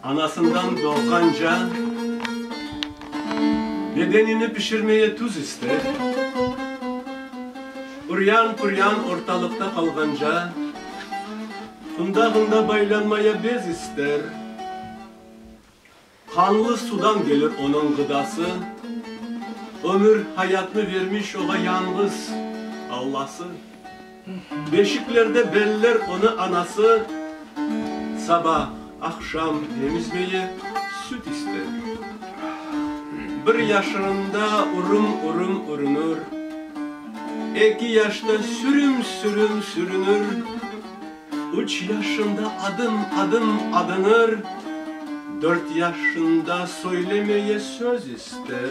Anasından doğğan can bedenini pişirmeye tuz ister, üryan-püryan ortalıqta qalğanca fında-fında baylanmaya bez ister. Qanlı sudan gelir onıñ ğıdası, ömür, hayatnı vermiş oğa yañğız Allası. Beşiklerde beller onı anası sabah, aqşam emizmeye, süt ister. Bir yaşında urım-urım ürünür, eki yaşta sürüm-sürüm sürünür, üç yaşında adım-adım adınır, dört yaşında söylemeye söz ister.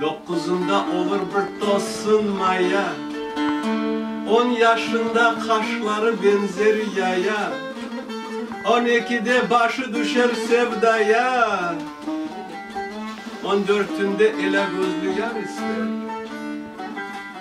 Doqquzında olur bir tossun maya, On yaşında qaşları benzer yaya, On ekide başı düşer sevdaya, On dörtünde elâgözlü yar ister.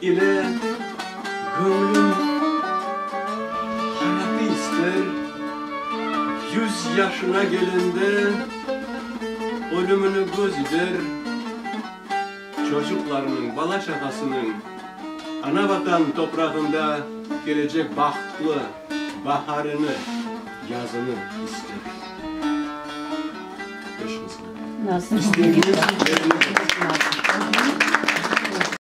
İle göñlüm hayatı ister, Yüz yaşına gelende ölümini göz ider. Çocuqlarınıñ, bala-çağasınıñ ana Vatan toprağında kelecek bahtlı baharını, yazını ister. Beş mısra. İstediğiniz yerine.